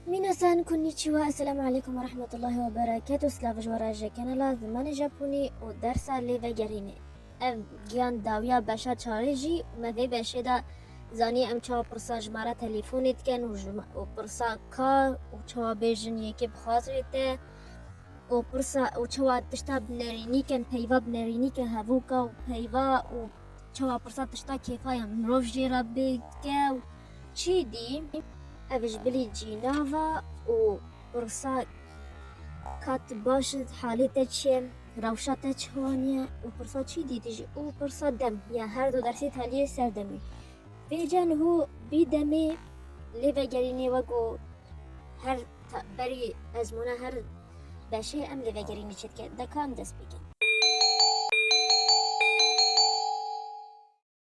Minasan, Konnichiwa, Esselamu Aleykum ve Rahmetullahi ve Bereketu, Slavij ve Rajekene la zimanê Japonî û dersa lê vegerîne. Ev giyan dawiya beşa çarê jî û me vê beşê de zanî em çawa pirsa ji me re telîfonê dikin û ji û pirsa ka û çawa bêjin yekê bi xatirê te û pirsa û çawa tişta bi nerînî kin peyva bi nerînî ke hevûka û peyva û çawa pirsa tişta kêfa ya mirov jê re bê dike û Çî dî ev ji bilî cînava û pirsa ka tu baş î, halê te çi ye, rewşa te çiwan ye û pirsa çî dî dijî û pirsa dem ya her du dersî teliyê ser demê. Bêje niho bî demê lê vegerînê we ku her berî ezmûna her beşê em lê vegerînê çêdike, deka em dest pê kin.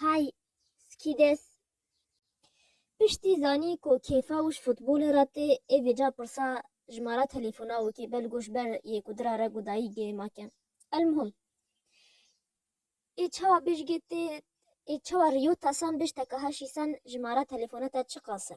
Hay Skides piştî zanî ku kêfa wî ji futbolê re tê ê vêca pirsa jimara telefona wî kê belgo ji ber yê ku dira reg û dayîk gêma ke. Elmuhim ê çawa bêjgê tê ê çawa Rio Tasan bêj te kaha şîsan jimara telefona te çiqas e.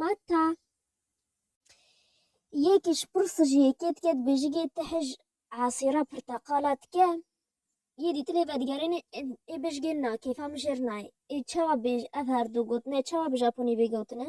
Heta yekê ji pirsa ji yekê dike dibêjigê ti hej esêra pirteqala dike yê dîtinê vedigerêne ê bêjigê na kêfa min jêr nayê ê çawa bêj ev her du gotine çawa bi japonî bêgotine.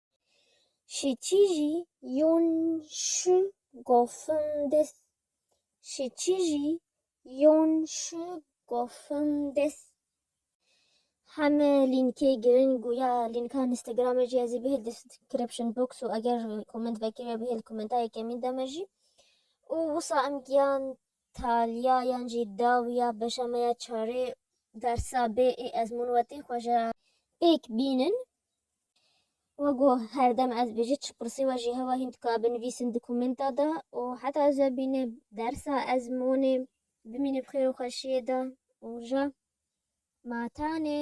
Şiçîjî yon şi gofin des Şiçîjî yon şi gofin des Heme lînkê girin û ya lînka Instagramê jî ez ê bihêl description box û eger comment vekirî me bihêl commenta yekê min de me jî û wisa em giyan taliya yan jî dawiya beşa me ya çarê dersa bê ê ezmûn wetê xwe ji pêk bînin. Wego her dem ez bêje çi pirsê we jî hewa hîn dika binivîsin dokumenta de û heta ez ve bîne dersa ez monê bimîne bi xêr û xweşiyê de û ja ma tanê.